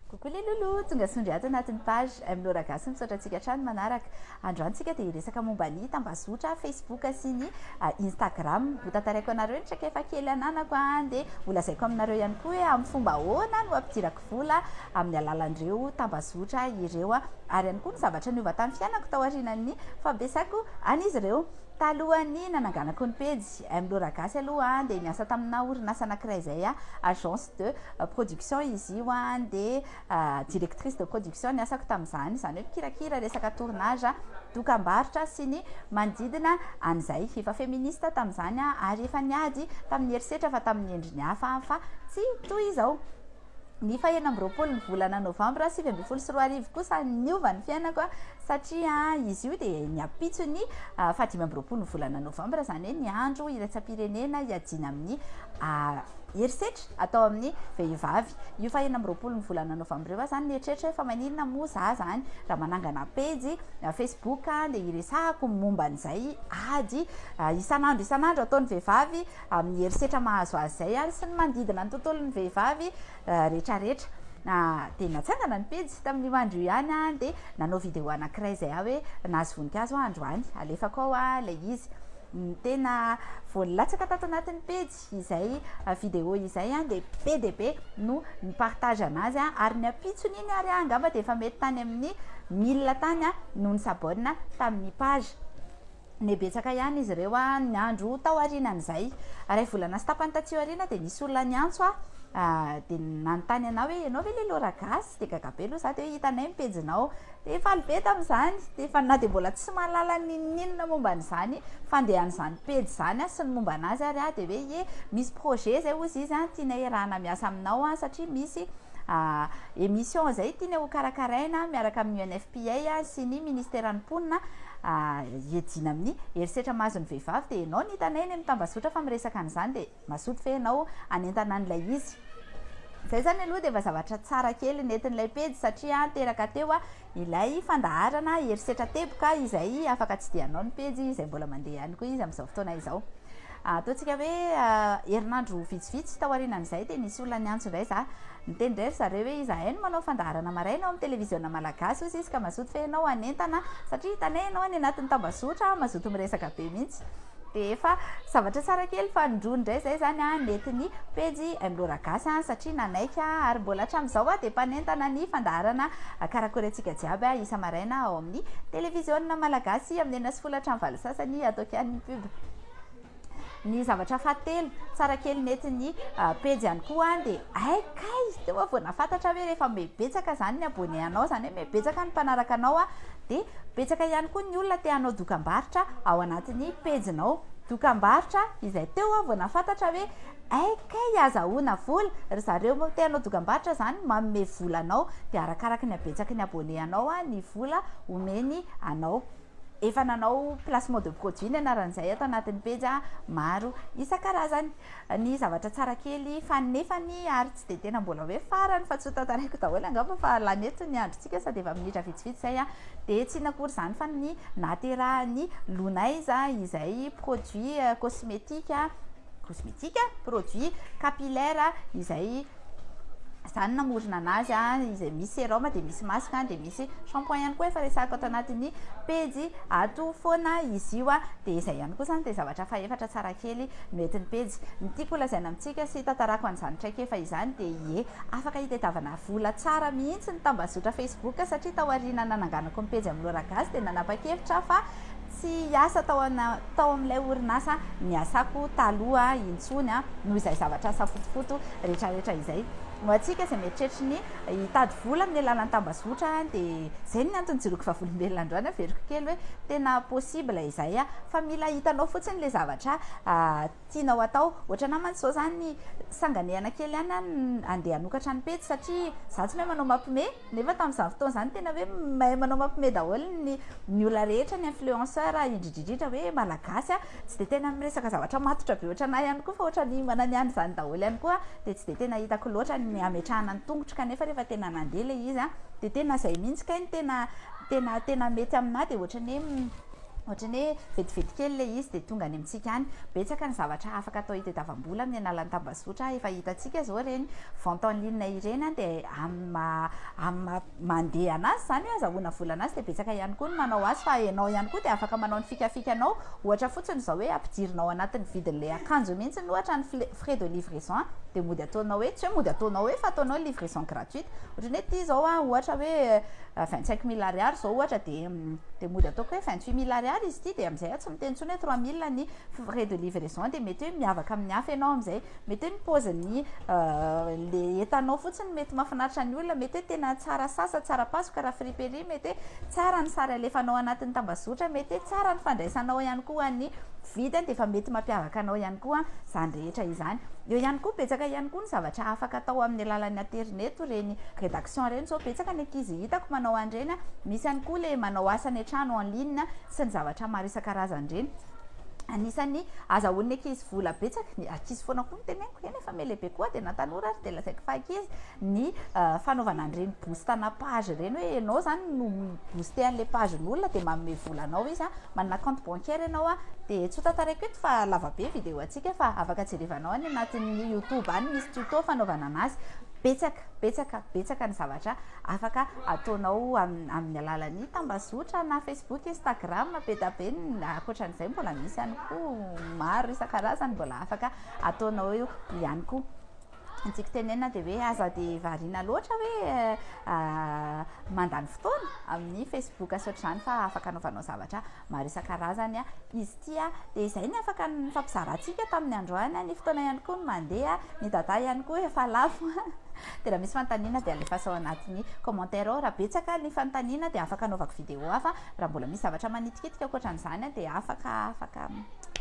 Coucou les loulous, tonga sondry ato anatin'ny page M Laura Gasy misaotra antsika hatrany manaraka. Androany tsika dia hiresaka momba ny tambazotra Facebook sy ny ah, Instagram. Ho tantaraiko anareo ny traikefa kely ananako ah, dia ho lazaiko aminareo ihany koa hoe amin'ny fomba ahoana no ampidirako vola amin'ny alalan'ireo tambazotra ireo ah. ary ihany koa ny zavatra niova tamin'ny fiainako taorianan'ny fampiasako an'izy ireo talohan'ny nananganako ny pejy. Amy ireo raha gasy aloha dia niasa tamina orinasa anakiray izay agence de production izy io dia directrice de production ny asako tamin'izany izany hoe mpikirakira resaka tournage dokambarotra sy ny manodidina an'izay efa feministe tamin'izany ary efa niady tamin'ny herisetra fa tamin'ny endriny hafa fa tsy toy izao ny faha enina amby roapolo ny volana novambra sivy ambin'ny folo sy roa arivo kosa niova ny fiainako a satria izy io dia ny ampitso ny ah, faha dimy amby roapolo ny volana novambra izany hoe ny andro iraisam-pirenena hiadiana amin'ny ah, herisetra atao amin'ny vehivavy io faha enina amby roapolo ny volana novambra io aho izany nieritreritra hoe fa maninona moa za izany raha manangana pejy ah, facebook dia iresahako momba an'izay ady isan'andro isan'andro ataon'ny vehivavy amin'ny herisetra mahazo azy izay ary sy ny manodidina ny tontolon'ny vehivavy rehetrarehetra. Dia natsangana ny pejy tamin'io andro io ihany aho dia nanao vidéo anankiray izay aho hoe nahazo voninkazo aho androany, alefako ao ilay izy. Ny tena vao nilatsaka tato anatin'ny pejy izay vidéo izay dia be dia be no ni-partage anazy ary ny ampitsony iny ary angamba dia efa mety tany amin'ny mille tany no ni-s'abonne tamin'ny page. Neh betsaka ihany izy ireo an! Ny andro tao aorianan'izay, iray volana sy tapany taty aoriana dia nisy olona niantso ahy dia nanontany anah hoe ianao ve ilay Laura gasy? Dia gaga be aloha izaho dia hoe hitanay ny pejinao dia faly be tamin'izany dia efa na dia mbola tsy mahalala n'inon'inona momba an'izany fandehan'izany pejy izany aho sy ny momba an'azy ary aho dia hoe ye misy projet izay hozy izy an! tiana iarahana miasa aminao an! satria misy Émission izay tiany ho karakaraina miaraka amin'ny UNFPA sy ny Ministeran'ny Mponina hiadiana amin'ny herisetra mahazo ny vehivavy dia ianao no hitanay eny amin'ny tambazotra fa miresaka an'izany dia mazoto ve ianao hanentana an'ilay izy? Izay izany aloha dia efa zavatra tsara kely nentin'ilay pejy satria teraka teo ilay fandaharana herisetra teboka izay afaka tsidihanao ny pejy izay mbola mandeha ihany koa izy amin'izao fotoana izao. Ataontsika hoe herinandro vitsivitsy taorianan'izay dia nisy olona niantso indray izaho. Niteny indray ry zareo hoe izahay no manao fandaharana maraina ao amin'ny televiziona malagasy hoy izy ka mazoto ve ianao hanentana satria hitanay ianao any anatin'ny tambazotra mazoto miresaka be mihitsy. Dia efa zavatra tsara kely fa nindroany indray izay izany aho nety ny pejy Imlora Gasy satria nanaiky aho ary mbola hatramin'izao aho dia mpanentana ny fandaharana Karakorentsika Jiaby aho isa-maraina ao amin'ny televiziona malagasy amin'ny enina sy folo hatramin'ny valo sasany ataoko ihany ny pub. Ny zavatra fahatelo, tsara kely nety ny pejy ihany koa dia hay kay teo aho vao nahafantatra hoe rehefa mibetsaka izany ny abonné anao izany hoe mibetsaka ny mpanaraka anao dia betsaka ihany koa ny olona te hanao dokambarotra ao anatin'ny pejinao. Dokambarotra izay teo aho vao nahafantatra hoe hay kay azahoana vola, ry zareo te hanao dokambarotra izany manome vola anao dia arakaraky ny habetsaky ny abonné anao ny vola omeny anao. Efa nanao placement de produit ny anaran'izay ato anatin'ny pejy maro isan-karazany. Ny zavatra tsara kely fa nefany ary tsy dia tena mbola hoe farany fa tsy ho tantaraiko daholo angamba fa lany eto ny androntsika sady efa minitra vitsivitsy izay dia tsy inona akory izany fa ny nahaterahan'ny Lunaiza izay produit cosmetique Kosmetika, produit capillaire izay izany namorona anazy izay misy sérum dia misy masque dia misy shampoing ihany koa efa resahiko ato anatin'ny pejy ato foana izy io dia izay ihany koa izany dia zavatra fahefatra tsara kely no entin'ny pejy. Ny tiako holazaina amintsika sy hitantarako an'izany traikefa izany dia ie afaka hitadiavana vola tsara mihitsy ny tambazotra facebook satria taoriana nananganako ny pejy amin'ny Loragasy dia nanapa-kevitra aho fa Tsy hiasa tao tao amin'ilay orinasa niasako taloha intsony noho izay zavatra safotofoto retraretra izay. Ho antsika izay mieritreritra ny hitady vola amin'ny alalan'ny tambazotra dia izay ny antony joroako vavolombelona androany averiko kely hoe tena possible izay fa mila hitanao fotsiny ilay zavatra Tianao atao ohatranà mantsy zao zany sanganehana kely ihany an andeha hanokatra ny pejy satria za tsy mahay manao mapme nefa tamin'izany fotoana zany tena hoe mahay manao mapme daholo ny ny olona rehetra ny influenceur indridridridra hoe malagasy an tsy dia tena miresaka zavatra matotra be ohatranà ihany koa fa ohatran'ny mananiany izany daholo ihany koa dia tsy dia tena hitako loatra ny hametrahana ny tongotro kanefa rehefa tena nandeha ilay izy an dia tena izay mihitsy kay ny tena tena tena mety aminà dia ohatran'ny hoe Ohatran'ny hoe vetivety kely ilay izy dia tonga any amintsika any. Betsaka ny zavatra afaka atao hitadiavam-bola amin'ny alalan'ny tambazotra. Efa hitantsika izao ireny vente en ligne ireny dia amin'ny maha amin'ny maha mandeha an'azy izany hoe azahoana vola an'azy dia betsaka ihany koa ny manao azy fa ianao ihany koa dia afaka manao ny fikafikanao. Ohatra fotsiny izao hoe ampidirinao anatin'ny vidin'ilay akanjo mihitsy ohatra ny fle- frais de livraison an dia mody ataonao hoe, tsy hoe mody ataonao hoe fa ataonao livraison gratuite. Ohatran'ny hoe ity izao an ohatra hoe vingt cinq mille ariary izao ohatra dia. dia mody ataoko hoe vingt huit mille ariary izy ity dia amin'izay aho tsy miteny intsony hoe trois mille ny frais de livraison dia mety hoe miavaka amin'ny hafa ianao amin'izay mety hoe ny paozin'ny le entanao fotsiny mety mahafinaritra ny olona mety hoe tena tsara sasa tsara pasoka raha friperie mety hoe tsara ny sary alefanao anatin'ny tambazotra mety hoe tsara ny fandraisanao ihany koa an'ny Vita dia efa mety mampiavaka anao ihany koa izany rehetra izany. Eo ihany koa betsaka ihany koa ny zavatra afaka atao amin'ny alalan'ny aterineto ireny redaction ireny izao betsaka ny ankizy hitako manao an'ireny misy ihany koa le manao asa any an-trano en ligne sy ny zavatra maro isan-karazany ireny anisan'ny azahoan'ny ankizy vola betsaka ny ankizy foana koa no teneniko eny efa me lehibe koa dia na tanora ary dia lazaiko fa ankizy ny fanaovana an'ireny boostana page ireny hoe ianao izany no mi booster an'ilay pagen'olona dia manome vola anao izy an, manana compte bancaire ianao an, dia tsy ho tantaraiko eto fa lava be video antsika fa afaka jerevanao any anatin'ny youtube any misy tuto fanaovana an'azy, betsaka betsaka betsaka ny zavatra afaka ataonao amin'ny alalan'ny tambazotra na facebook, instagram, be da be ny ankoatran'izay mbola misy ihany koa maro isan-karazany mbola afaka ataonao eo ihany koa. ny tiako tenenina dia hoe aza dia variana loatra hoe mandany fotoana amin'ny facebook sy ohatr'izany fa afaka anaovanao zavatra maro isan-karazany izy ity dia izay ny afaka nifampizarantsika tamin'ny androany ny fotoana ihany koa no mandeha ny data ihany koa efa lafo dia raha misy fanontaniana dia alefaso ao anatin'ny commentaire ao raha betsaka ny fanontaniana dia afaka anaovako vidéo hafa raha mbola misy zavatra manitikitika ankoatra an'izany dia afaka afaka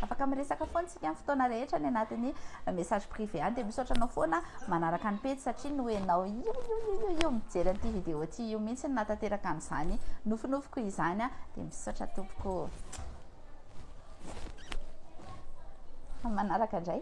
afaka miresaka foana Ny amin'ny fotoana rehetra any anatin'ny message privé any dia misaotra anao foana manaraka ny pejy satria noho ianao ioioioio mijery an'ity vidéo ity io mihitsy no nahatanteraka an'izany nofinofiko izany dia misaotra tompoko amin'ny manaraka indray.